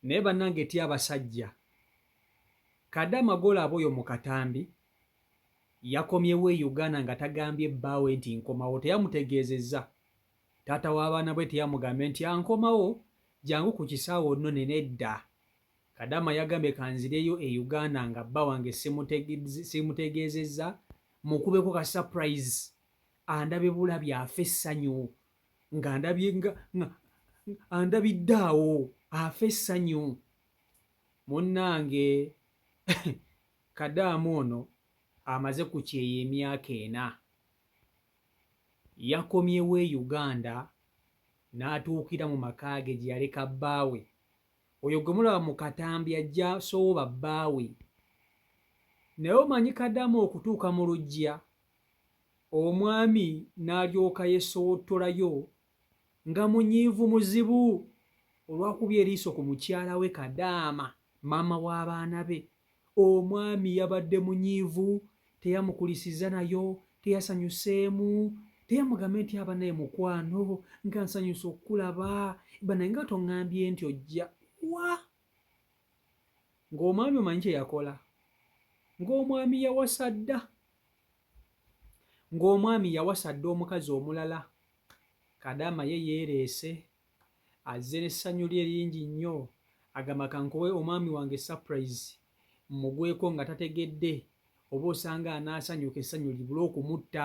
Naye banange tya abasajja. Kade amagolo abo oyo mukatambi yakomyewo e Uganda nga tagambye bbaawe nti nkomawo teyamutegeezezza taata w'abaana bwe teyamugambye nti ankomawo jangu ku kisaawe onnone nedda Kadama yagambye kanzireyo e Uganda nga bba wange simutegeezezza mukubeko ka surprise andabe bulabi afe essanyu nga ndabye nga andabidde awo afa essanyu munnange kadaamu ono amaze ku kyeyo emyaka ena yakomyewo e uganda n'atuukira mu maka ge gye yaleka bbaawe oyo gwe mulaba mu katambi ajja sooba bbaawe naye omanyi kadaamu okutuuka mu lujja Omwami n'alyoka yesowottolayo nga munyiivu muzibu olwakubye eriiso ku mukyala we Kadaama, maama w'abaana be. Omwami yabadde munyiivu, teyamukulisizza nayo, teyasanyuseemu, teyamugambye nti aba naye mukwano nga nsanyuse okukulaba banaye nga tongambye nti ojja wa ng'omwami omanyi kye yakola ng'omwami yawasa dda ng'omwami yawasa dda omukazi omulala kadaama ye yeereese azze n'essanyu lye lingi nnyo agamba kankuwe omwami wange surprise mmugweko nga tategedde oba osanga anaasanyuka essanyu libula okumutta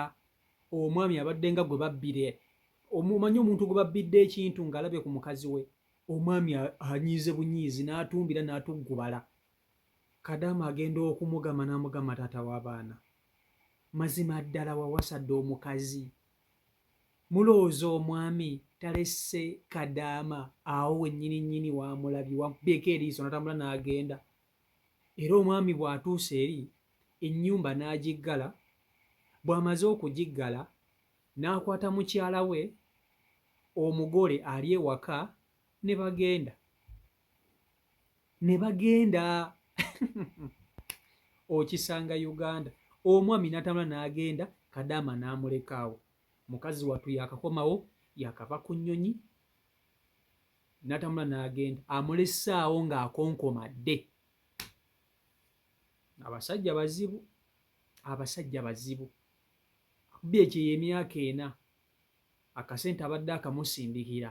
omwami abadde nga gwe babbire omumanyi omuntu gwe babbidde ekintu ng'alabye ku mukazi we Omwami anyiize bunyiizi n'atumbira n'atuggubala. Kadaama agenda okumugamba n'amugamba taata w'abaana mazima ddala wawasa dda omukazi. Mulowooza omwami talesse Kadaama awo wennyini nnyini w'amulabye wamubyeko eriiso n'atambula n'agenda. Era omwami bw'atuusa eri ennyumba n'agiggala, bw'amaze okugiggala n'akwata mukyala we omugole ali ewaka ne bagenda ne bagenda okisanga Uganda omwami n'atambula n'agenda kadaama n'amulekaawo mukazi wattu yakakomawo yakava ku nnyonyi n'atambula n'agenda amulesaawo ng'akonkomadde abasajja bazibu abasajja bazibu Bbi ekyo ey'emyaka ena akasente abadde akamusindikira.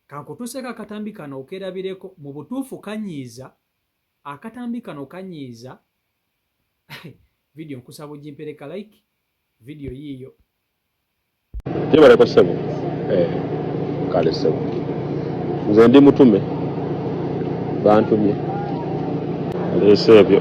Kankutuuseeko akatambi kano okerabireko, mu butuufu kanyiiza, akatambi kano kanyiiza. Vidiyo nkusaba ogimpereka like, vidiyo yiiyo. Jebaleko sebo eh, kale sebo nze ndi mutume bantumye leese ebyo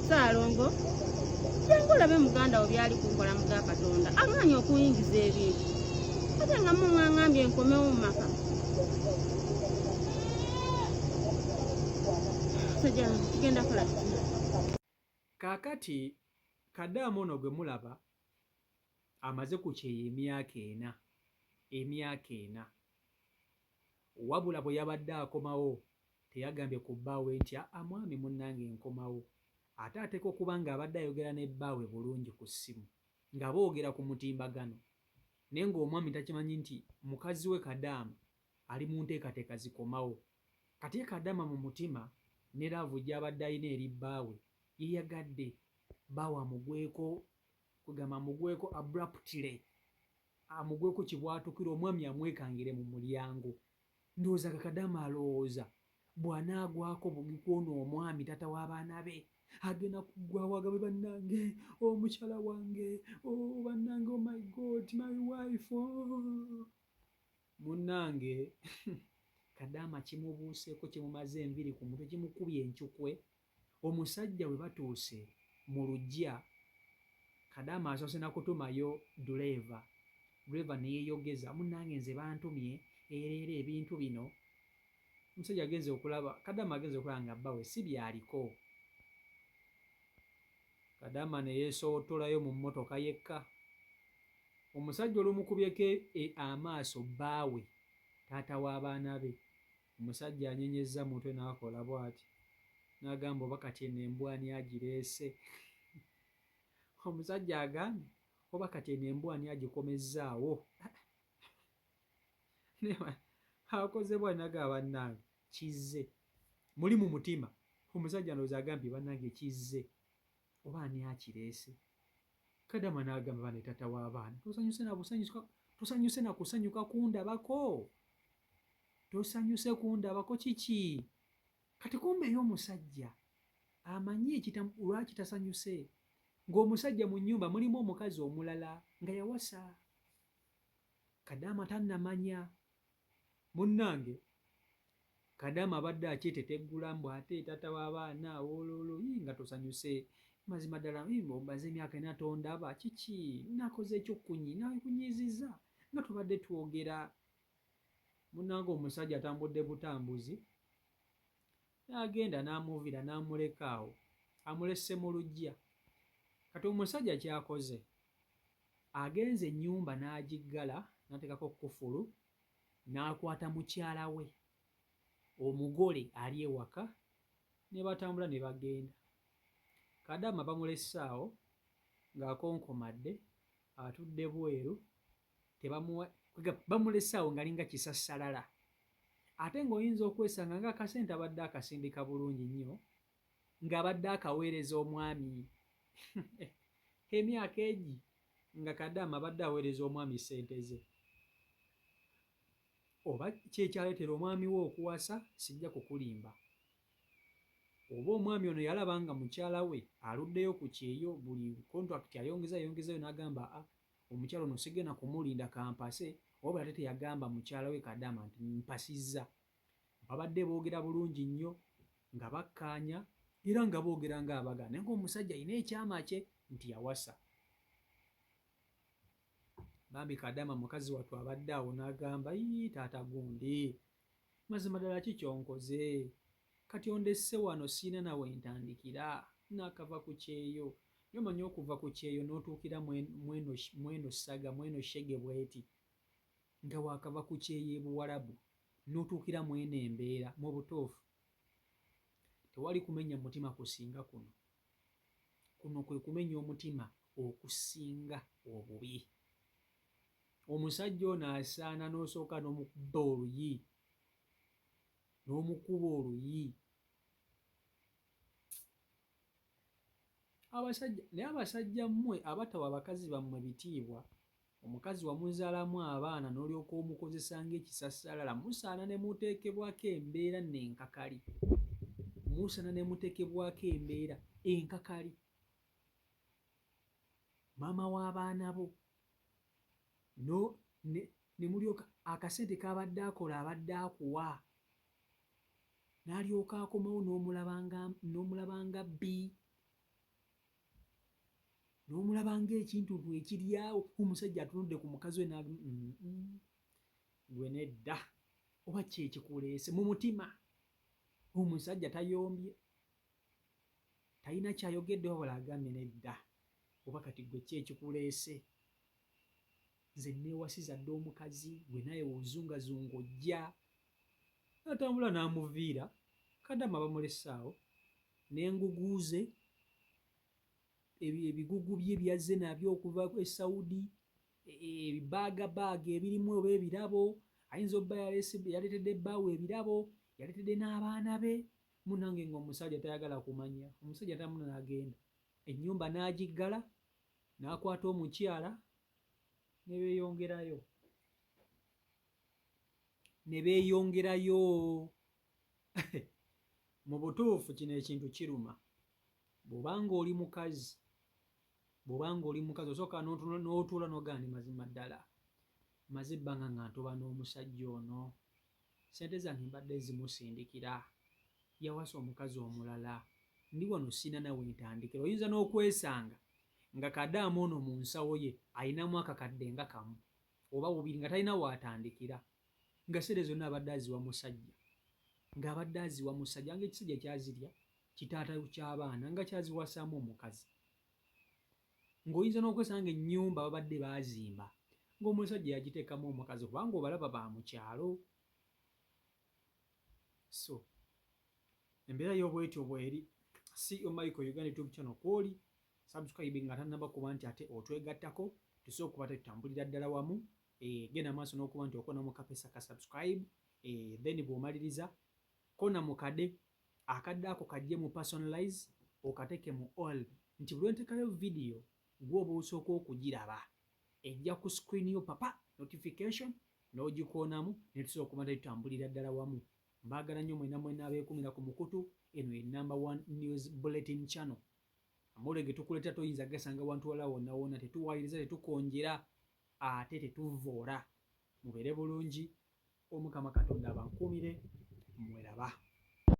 Ssaalongo jangu olabe muganda wo byali kunkola mu ga Katonda agaanyi okuyingiza ebintu ate nga mumwangambye nkomewo mu maka tugenda kola kaakati kadaamu ono gwe mulaba amaze ku kyeyo emyaka ena emyaka ena wabula bwe yabadde akomawo Teyagambye ku bbaawe nti, Aa mwami munnange nkomawo. Ate ateekwa okuba ng'abadde ayogera ne bbaawe bulungi ku ssimu, nga boogera ku mutimbagano, naye ng'omwami takimanyi nti mukazi we Kadaama ali mu nteekateeka zikomawo. Kati ye Kadaama mu mutima ne laavu gy'abadde alina eri bbaawe, yayagadde bbaawe amugweko, kwegamba amugweko abruptly, amugweko kibwatukira omwami amwekangire mu mulyango. Ndowooza nga kadama alowooza bwanaagwako bugi kwono omwami tata w'abaana be agenda kuggwawo agabe bannange oh, omukyala wange oh, bannange oh my god my wife oh. munnange kadaama kimubuuseeko kimumaze enviri ku mutwe kimukubye enkyukwe Omusajja bwe batuuse mu luggya, Kadaama asoose na kutumayo dduleeva, dduleeva ne yeeyogeza, Munnange nze bantumye era era ebintu bino omusajja agenze okulaba, Kadaama agenze okulaba nga bbawe si by'aliko. Kadaama ne yeesoottolayo mu mmotoka yekka. Omusajja olumukubyeko amaaso bbaawe, taata w'abaana be, Omusajja anyenyezza mutwe n'akola bw'ati n'agamba, oba kati eno embwa ani agireese? Omusajja agambye, oba kati eno embwa ani agikomezzaawo? Akoze bw'ati n'agamba, bannange kizze. Muli mu mutima, omusajja ndowooza agambye, bannange kizze. Oba ani akireese? Kadama n'agamba bane taata w'abaana tosanyuse na busanyuka tosanyuse na kusanyuka kundabako tosanyuse kundabako kiki kati kumbeeyo omusajja amanyi ekitamu lwaki tasanyuse ng'omusajja mu nnyumba mulimu omukazi omulala nga yawasa kadaama tannamanya Munnange kadaama abadde akyeteteggula mbu ate taata w'abaana wololo yii nga tosanyuse mazima ddala omaze emyaka ena tondaba kiki nakoze ekyokunyi nakunyiiziza nga tubadde twogera munnange omusajja atambudde butambuzi N'agenda n'amuviira n'amuleka awo amulesse mu luggya. Kati omusajja ky'akoze agenze ennyumba n'agiggala n'ateekako kkufulu n'akwata mukyala we omugole ali ewaka ne batambula ne bagenda. Kadaama bamulesse awo ng'akonkomadde atudde bweru bamulesaawo ngalinga kisassalala ate ng'oyinza okwesanga nga akasente abadde akasindika bulungi nnyo ng'abadde akaweereza omwami emyaka egi nga kadaama abadde aweereza omwami ssente ze oba kyekyaleetera omwami we okuwasa sijja kukulimba oba omwami ono yalaba nga mukyala we aluddeyo ku kyeyo buli kontrakiti ayongeza ayongezayo n'agamba a ah, Omukyala ono sigenda kumulinda kampase wabula ate teyagamba mukyala we Kadaama nti mpasizza. Babadde boogera bulungi nnyo nga bakkaanya era nga boogera ng'abagana naye ng'omusajja alina ekyama kye nti yawasa. Bambi Kadaama mukazi wattu abadde awo n'agamba, yii taata gundi Mazima ddala ki kyonkoze? Kati ondesse wano sirina na wentandikira. Nakava ku kyeyo. Naye omanyi okuva ku kyeyo notuukira mweno mweno ssaga, mweno shege bweti. Nga wakava ku kyeyo e Buwarabu notuukira mweno embeera. Mu butuufu tewali kumenya mutima kusinga kuno. Kuno kwe kumenya omutima okusinga obubi. omusajja ono asaana n'osooka n'omukubba oluyi n'omukuba oluyi abasajja naye abasajja mmwe abatawa abakazi bammwe bitiibwa omukazi wamuzaalamu abaana n'olyoka omukozesa ng'ekisassalala musaana ne muteekebwako embeera nenkakali musaana ne muteekebwako embeera enkakali maama w'abaana bo no ne nemulyoka akasente kabadde akola abadde akuwa nalyoka akomawo nomulaba nga nomulaba nga bbi nomulaba nga ekintuntu ekiryawo omusajja atunudde ku mukazi we nag mm, mm. gwe nedda oba kyekikuleese mu mutima omusajja tayombye talina kyayogedde wabula agambye nedda oba kati gwe ki ekikuleese nze newasiza dda omukazi gwe naye wozungazunga ojja natambula namuviira kadama bamulesaawo nenguguuze ebigugu bye byazze nabyo okuva e saudi e, e, ebibaagabaaga ebirimu oba ebirabo ayinza obba yaleetedde bbaawo ebirabo yaleetedde n'abaana be Munange nga omusaja tayagala kumanya omusaja tamuna nagenda enyumba nagiggala nakwata omukyala nebeyongerayo nebeyongerayo mubutuufu kino ekintu kiruma bwobanga oli mukazi bwobanga oli mukazi osooka notuula nogandi mazima ddala maze ebbanga nga ntoba n'omusajja ono Ssente zange mbadde nzimusindikira. Yawasa omukazi omulala. Ndi wano sirina na we ntandikira. Oyinza n'okwesanga nga kadaama ono mu nsawo ye alinamu akakadde nga kamu oba bubiri nga talina w'atandikira nga ssente zonna abadde aziwa musajja ng'abadde aziwa musajja nga ekisajja kyazirya kitaata ky'abaana nga kyaziwasaamu omukazi. ng'oyinza n'okwesanga ennyumba babadde baazimba ng'omusajja yagiteekamu omukazi kubanga obalaba ba mu kyalo so embeera y'obwetyo bweri CEO Michael Uganda YouTube channel kwoli subscribe nga tannaba kuba nti ate otwegattako tusobola okuba tetutambulira ddala wamu eh, genda maaso n'okuba nti okona mu kapesa ka subscribe eh, then bw'omaliriza kona mukade Akadde ako kajje mu personalize okateke mu all nti bulwentekayo video gwoba osooka okujiraba ejja ku screen yo papa notification nogikoonamu netusobola okuba nti tutambulira ddala wamu. Mbagala nnyo mwena mwena abekumira ku mukutu eno ye number one news bulletin channel. Amore getukuleta toyinza gasanga wantu wala wonna wonna tetuwayiriza tetukonjera ate tetuvvoora. Mubere bulungi omukama katonda abankuumire mweraba.